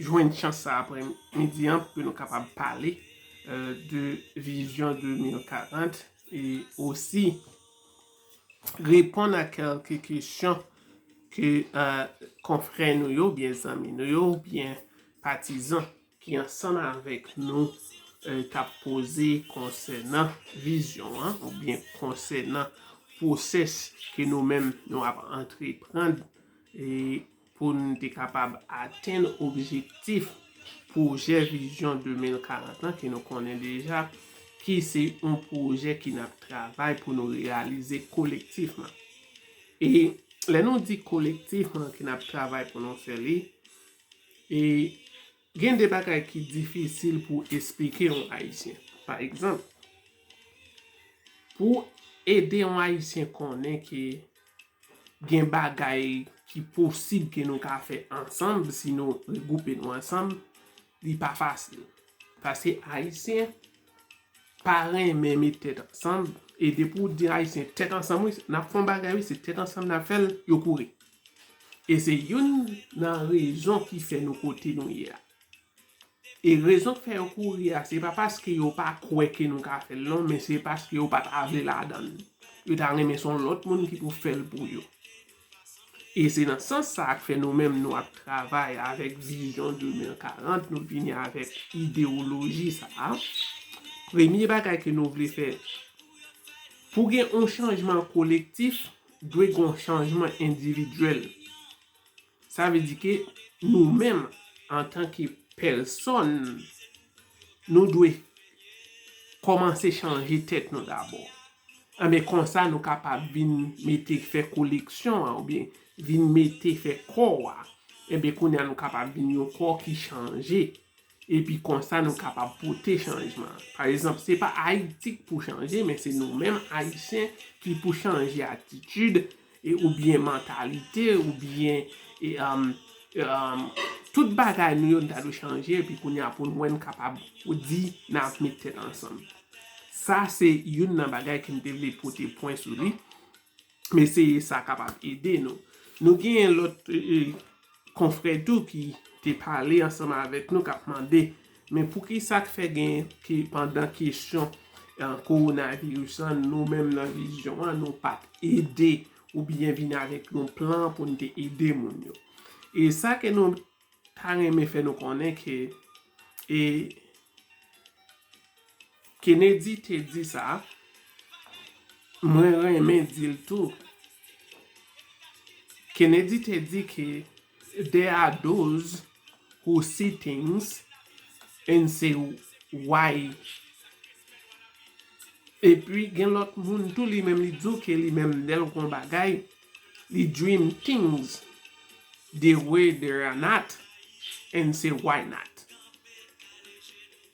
jwenn chans sa apre midi an pou ke nou kapab pale de vizyon 2040 e osi reponn a kelke kesyon ke konfrè nou yo, byen zanmi nou yo, byen patizan ki ansanm avèk nou ta pose konsènan vizyon an ou byen konsènan pwosès ke nou menm nou ap antre pran. Pou n te kapab atenn objektif pwojè vizyon 2040 lan ke nou konnen deja, ki se yon pwojè ke n ap travay pou nou reyalize kolektifman. E lè nou di kolektifman ke n ap travay pou nou fè li, e gen de bagay ki difisil pou w esplike yon Ayisyen. Pa egzanp, pou w ede yon Ayisyen konnen ke, gen bagay ki posib ke nou ka fè ansanm si nou regwoupe nou ansanm, li pa fasil. Paske Ayisyen pa renmen met tèt ansanm, e depi ou di Ayisyen tèt ansanm wi, n ap fè yon bagay wi, se tèt ansanm n ap fè l, yo kouri. E se youn nan rezon ki fè nou kote nou ye a. E rezon k fè yo kouri a, se pa paske yo pa kwè ke nou ka fè l non, men se paske yo pa ta vle ladan l. Yo ta renmen se yon lòt moun ki pou fè l pou yo. E se nan sans sa a k fè nou menm nou ap travay avèk vizyon 2040, nou vini avèk idewoloji sa a. Premye bagay ke nou vle fè, pou gen yon chanjman kolektif, dwe gen yon chanjman endividyèl. Sa vle di ke nou menm antan ke pèsòn, nou dwe kòmanse chanje tèt nou dabò. Anben konsa nou kapab vin mete fè koleksyon an oubyen vin mete fè kò a. Enben kounye a nou kapab vin yon kò ki chanje. Epi konsa nou kapab pote chanjman. Pa ezanp, se pa Ayiti k pou chanje men se nou menm Ayisyen ki pou chanje atitid e oubyen mantalite oubyen e tout bagay nou yo n ta dwe chanje epi kounye a pou n wè n kapab pou di n ap met tèt ansanm. Sa se youn nan bagay ke m te vle pote pwen sou li M eseye sa kapab ede nou. Nou genyen lòt konfrè tou ki te pale ansanm avèk nou k ap mande men poukisa k fè gen ke pandan kesyon kowonaviris lan nou menm nan vizyon an nou pa t ede oubyen vin avèk yon plan pou n te ede moun yo. E sa ke nou Ta renmen fè nou konnen ke e Kennedy te di sa, mwen renmen di l tou, Kennedy te di ke there are those who see things and say why epi gen lòt moun tou li menm li di w ke li menm lè l wè yon bagay Li dream things the way there are not and say why not.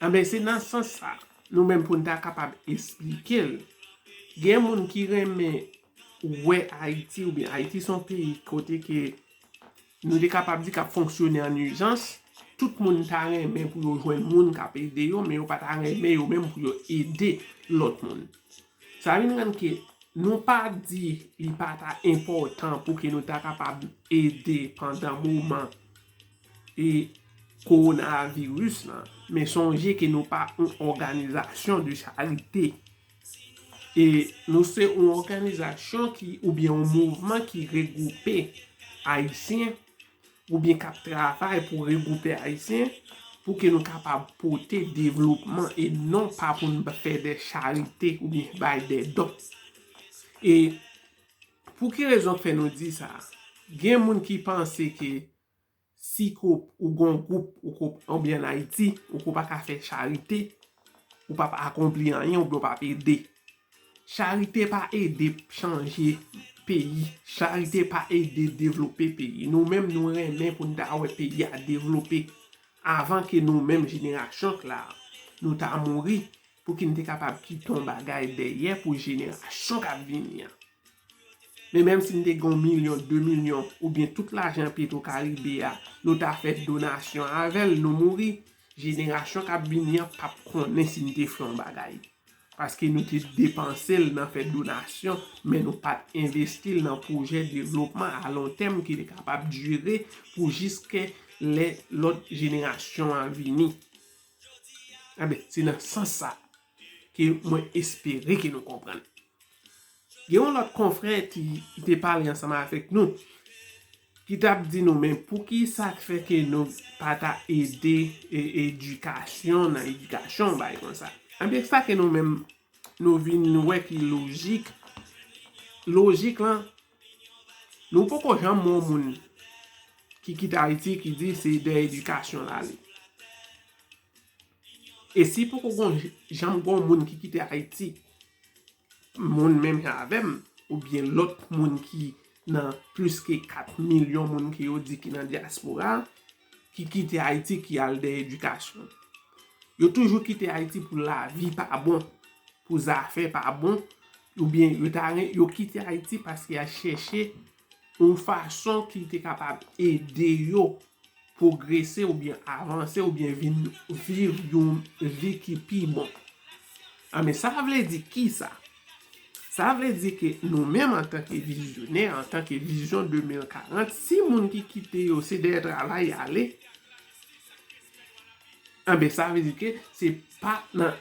Anben se nan sans sa nou menm pou n ta kapab esplike l. Gen moun ki renmen wè Ayiti oubyen Ayiti son peyi kote ke nou te kapab di k ap fonksyone an ijans. Tout moun ta renmen pou yo jwenn moun k ap ede yo men yo pa ta renmen yo menm pou yo ede lòt moun. Sa vin rann ke nou pa di li pa ta enpòtan pou ke nou ta kapab ede pandan moman e kowonaviris lan. Men sonje ke nou pa yon òganizasyon de charite. E nou se yon òganizasyon ki oubyen yon mouvman ki regwoupe Ayisyen oubyen k ap travay pou regwoupe Ayisyen pou ke nou kapab pote devlopman e non pa pou n fè dè charite oubyen bay dè don. E pou ki rezon k fè nou di sa? Gen moun ki panse ke si ke ou gen yon gwoup ou ke w oubyen an Ayiti ou ke w pa ka fè charite Ou pap akonpli anyen oubyen ou pap ede. Charite pa ede chanje peyi. Charite pa ede devlope peyi. Nou menm nou renmen pou n ta wè peyi a devlope avan ke nou menm jenerasyon k la nou ta mouri pou ki n te kapab kite yon bagay dèyè pou jenerasyon k ap vini an. Men menm si n te gen yon milyon, de milyon oubyen tout lajan petro karibe a nou ta fè donasyon avè l nou mouri. Jenerasyon kap vini an pap konnen si nou te fè yon bagay. Paske nou te depanse l nan fè donasyon, men nou pat envesti l nan pwojè devlopman a lon tèm ki te kapab dire pou jiske lè lòt jenerasyon an vini. Enben, se nan sans sa ke mwen espere ke nou konprann. Gen yon lòt konfrè ki te pale ansanm avèk nou, ki t ap di nou men pou ki sa k fè ke nou pa ta ede edikasyon nan edikasyon yon bagay konsa. Enben sa ke nou menm nou vin wè ki lojik, lojik lan, nou poko janm wè yon moun ki kite Ayiti ki di se dèyè edikasyon l ale. E si poko gon janm gon moun ki kite Ayiti, moun menm jan avèm, ou byen lòt moun ki nan plis ke 4 milyon moun ki yo di ki nan diaspora, ki kite Ayiti ki al dèyè edikasyon. Yo toujou kite Ayiti pou lavi pa bon, pou zafè pa bon, ou byen yo ta ren, yo kite Ayiti paske ya chèche. yon fason ki te kapab ede yo pwogrese oubyen avanse oubyen vin viv yon vi ki pi bon. A men sa vle di ki sa? Sa vle di ke nou menm antanke vizyonè, antanke vizyon 2040, si moun ki kite yo se dèyè travay y ale, a men sa vle di ke se pa nan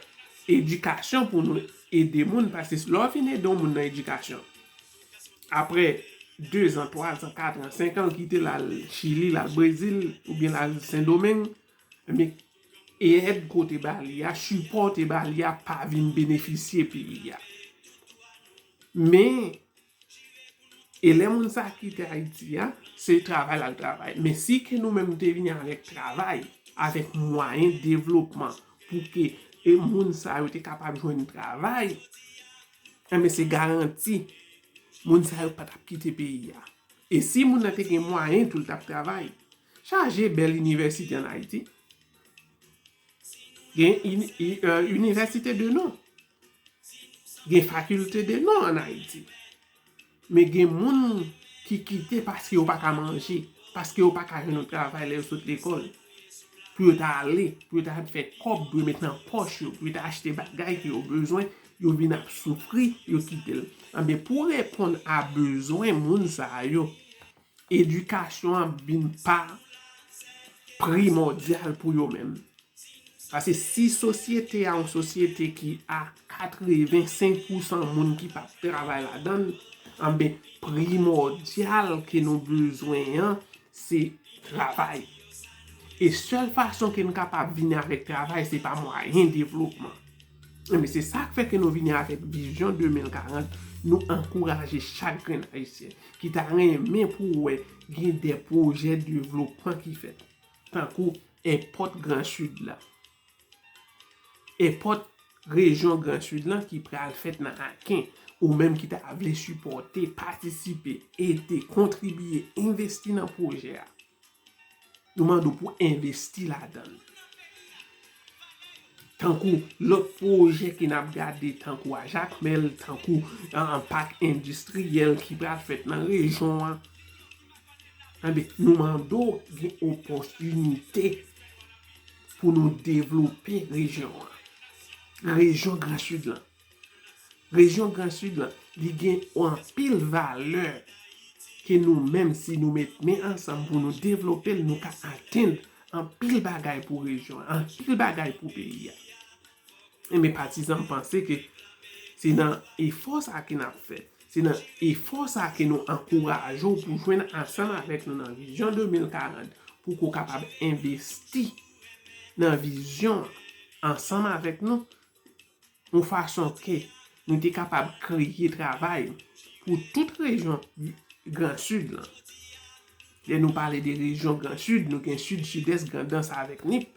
edikasyon pou nou ede moun paske lè w fin ede yon moun nan edikasyon, Aprè dezan, twazan, katran, senkan l kite l al Chili, l al Brezil oubyen l al Sendomeng, ebyen èd ke w te ba li a, sipò w te ba li a pa vin benefisye peyi a. Men, e lè moun sa kite Ayiti a, se travay l al travay. Men si ke nou menm te vini avèk travay, avèk mwayen devlopman pou ke e moun sa yo te kapab jwenn travay, Enben se garanti moun sa yo pa t ap kite peyi a. E si moun nan te gen mwayen tou l t ap travay. Chaje bèl inivèsite ann Ayiti. Gen inivèsite de non. Gen fakilte de non ann Ayiti. Men gen moun ki kite paske yo pa ka manje, paske yo pa ka jwenn yon travay lè yo sot lekòl. Pou yo ta ale, pou yo ta fè kòb, pou yo met nan pòch yo, pou yo ta achte bagay ke yo bezwen, yo vin ap soufri, yo kite l. Anben, pou reponn a bezwen moun sa yo, Edikasyon ap vin pa primòdyal pou yo menm. Pase si sosyete a yon sosyete ki a 85 pou 100 moun ki pa p travay ladan l, anben primòdyal ke nou bezwen an se travay. E sèl fason ke n kapab vini avèk travay se pa mwayen devlopman. Ebyen se sa k fè ke nou vini avèk vizyon 2040, nou ankouraje chak grenn Ayisyen ki ta renmen pou wè gen de pwojè devlopman ki fèt. Tankou èpòt gran Sid la. Èpòt rejyon gran Sid lan ki pral fèt nan Aken. Ou menm ki ta vle sipòte, patisipe, ede, kontribiye, envesti nan pwojè a. Yo mande w pou envesti ladan l. Tankou lòt pwojè ke n ap gade tankou a Jakmèl, tankou an pak endistriyèl ki pral fèt nan rejyon an. Anben, nou mande w gen opòtinite pou nou devlope rejyon an. Rejyon gran sid lan. Rejyon gran sid lan, li gen anpil valè ke nou menm si nou met men ansanm pou nou devlope l, nou ka atenn anpil bagay pou rejyon an, anpil bagay pou peyi a. E men patizan m panse ke se nan efò sa ke n ap fè, se nan efò sa ke nou ankouraje w pou jwenn ansanm avèk nou nan vizyon 2040 pou ke w kapab envesti nan vizyon an ansanm avèk nou yon fason ke nou te kapab kreye travay pou tout rejyon gran sid lan. Lè nou pale de rejyon gran sid, nou gen sid, sidès, grandans avèk nip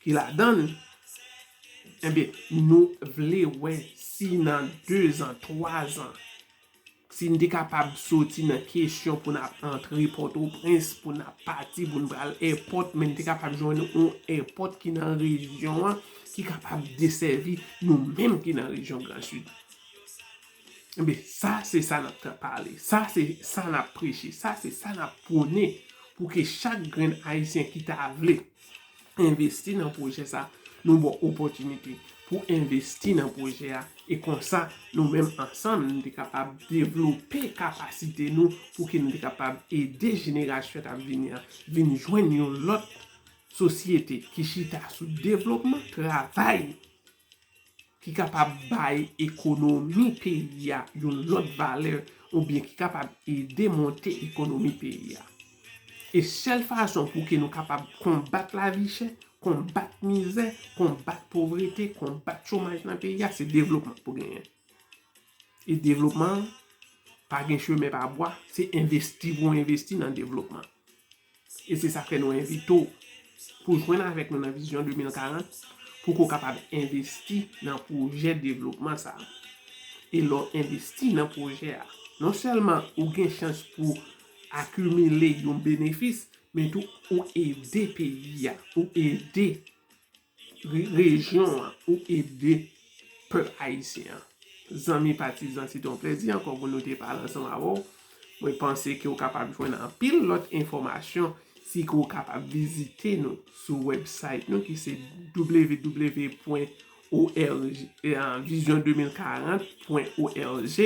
ki ladan l. Enben, nou vle wè si nan dezan, twazan, Si n te kapab soti nan kesyon pou n ap antre Pòtoprens, pou n ap pati, pou n pral èpòt, men n te kapab jwenn yon èpòt ki nan rejyon an, ki kapab desèvi nou menm ki nan rejyon Gran Sid. Enben, sa se sa n ap ta pale, sa se sa n ap preche, sa se sa n ap pwone pou ke chak grenn Ayisyen ki ta vle, envesti nan pwojè sa, nou ba w opòtinite pou w envesti nan pwojè a e konsa nou menm ansanm nou te kapab devlope kapasite nou pou ke nou te kapab ede jenerasyon k ap vini an vin jwenn yon lòt sosyete ki chita sou devlopman, travay. ki kapab bay ekonomi peyi a yon lòt valè oubyen ki kapab ede monte ekonomi peyi a. E sèl fason pou ke nou kapab konbat lavichè, konbat mizè, konbat povrete, konbat chomaj nan peyi a, se devlopman pou genyen. E devlopman, pa gen chemen pa bwa, se envesti pou envesti nan devlopman. E se sak fè nou envite w pou jwenn avèk nou nan Vizyon 2040 pou ke w kapab envesti nan pwojè devlopman sa a. E lè w envesti nan pwojè a, non sèlman ou gen chans pou w akimile yon benefis, men tou ou ede peyi a, ou ede. rejyon an pou ede pèp ayisyen an. Zanmi patizan se te yon plèzi ankò pou nou te pale ansanm avè w. Mwen panse ke ou kapab jwenn anpil lòt enfòmasyon si ke ou kapab vizite nou sou wèbsayt nou ki se www pwen org vision 2040 pwen org.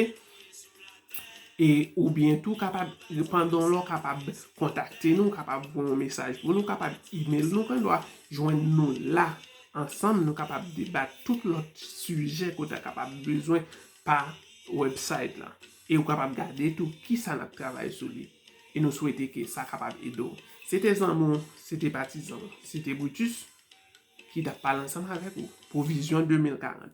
E ou byen tou kapab, pandan w la w kapab kontakte nou, w kapab voye yon mesaj pou nou, w kapab email nou, gen dwa jwenn nou la. Ansanm nou kapab debat tout lòt sijè ke w ta kapab bezwen pa website la. E ou kapab gade tou ki sa n ap travay sou li. E nou swete ke sa kapab ede w. Se te zanmi w, se te patizan w, se te Brutus ki t ap pale ansanm avèk ou pou vizyon 2040.